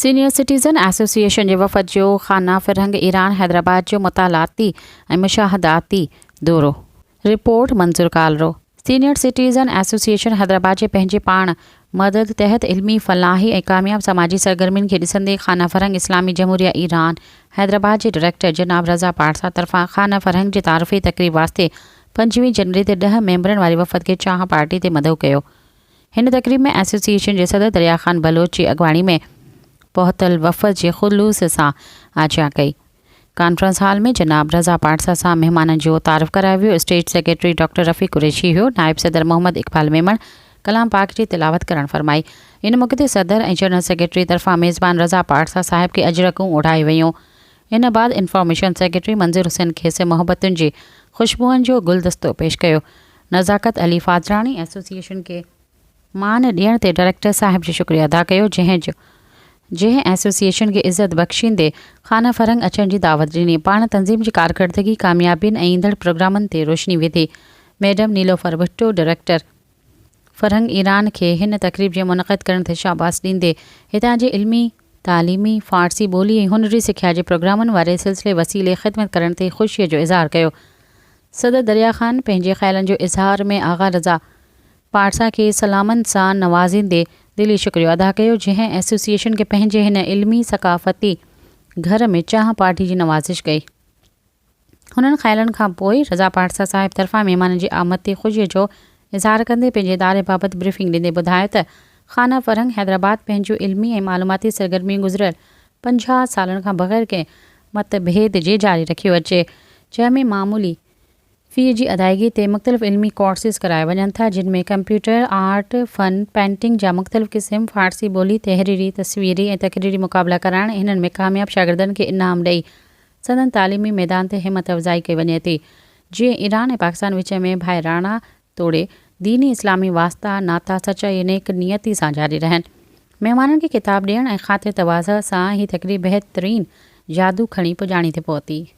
Senior citizen association جي وفد جو خانه فرهنگ ايران حيدرآباد جو مطالعاتي ۽ مشاهداتي دورو report Manzoor Kalro senior citizen association Hyderabad جي پنهنجي پاڻ مدد تحت علمي فلاحي ۽ ڪامياب سماجي سرگرمين کي ڏسندي خانه فرهنگ اسلامي جمهوريه ايران حيدرآباد جي ڊائريڪٽر جناب رضا پارسا طرفان خانه فرهنگ جي تعارفي تقريب واسطي پنجويهه جنوري تي ڏهه ميمبرن واري وفد کي چانهه پارٽي تي مدعو ڪيو هن تقريب ۾ ايسوسيئيشن جي صدر دريا خان بلوچ جي اڳواڻي ۾ پهتل وفد جي خلوص سان آجيان ڪئي. ڪانفرنس هال ۾ جناب رضا پاڙسا سان مهمانن جو تعارف ڪرايو ويو، stage secretary doctor Rafiq Qureshi هيو، نائب صدر محمد اقبال ميمڻ ڪلام پاڪ جي تلاوت ڪرڻ فرمائي، ان موقعي تي صدر ۽ جنرل سيڪريٽري طرفان ميزبان رضا پاڙسا صاحب کي اجرڪون اوڍايو ويون، ان بعد انفارميشن سيڪريٽري منظور حسين کيس محبتن جي خوشبوئن جو گلدستو پيش ڪيو، نزاڪت علي فاضلاڻي ايسوسيئيشن کي مان ڏيڻ تي ڊائريڪٽر صاحب جو شڪريو ادا ڪيو جنهن جو جنهن ايسوسيئيشن کي عزت بخشيندي خانه فرنگ اچڻ جي دعوت ڏني پاڻ تنظيم جي ڪارڪردگي ڪاميابين ۽ ايندڙ پروگرامن تي روشني وڌي ميڊم نيلوفر ڀٽو ڊائريڪٽر فرنگ ايران کي هن تقريب جي منعقد ڪرڻ تي شاباس ڏيندي هتان جي علمي تعليمي فارسي ٻولي ۽ هنري سکيا جي پروگرامن واري سلسلي وسيلي خدمت ڪرڻ تي خوشي جو اظهار ڪيو صدر دريا خان پنهنجي خيالن جو اظهار ۾ آغا رضا پارسا کي سلامن سان نوازيندي دلي شڪريو ادا ڪيو جنهن ايسوسيئيشن کي پنهنجي هن علمي ثقافتي گهر ۾ چانهه پارٽي جي نوازش ڪئي هنن خيالن کان پوء رضا پارسا صاحب طرفان مهمانن جي آمد تي خوشي جو اظهار ڪندي پنهنجي اداري بابت بريفنگ ڏيندي ٻڌايو ته خانه فرهنگ حيدرآباد پنهنجون علمي ۽ معلوماتي سرگرميون گذريل پنجاهه سالن کان بغير ڪنهن مت ڀيد جي جاري رکيو اچي، جنهن ۾ معمولي في جي ادائيگي تي مختلف علمي ڪورسز ڪرايا وڃن ٿا، جن ۾ ڪمپيوٽر، آرٽ، فن، پينٽنگ جا مختلف قسم، فارسي ٻولي، تحريري، تصويري ۽ تقريري مقابلا ڪرائڻ، هنن ۾ ڪامياب شاگردن کي انعام ڏئي سندن تعليمي ميدان تي همت افزائي ڪئي وڃي ٿي، جيئن ايران ۽ پاڪستان وچ ۾ ڀائراڻا توڙي ديني اسلامي واسطا، ناتا، سچائي ۽ نيڪ نيتي سان جاري رهن. مهمانن کي خطاب ڏيڻ ۽ خاطر تواضع سان هي تقريب بهترين جادو کڻي پڄاڻي تي پهتي.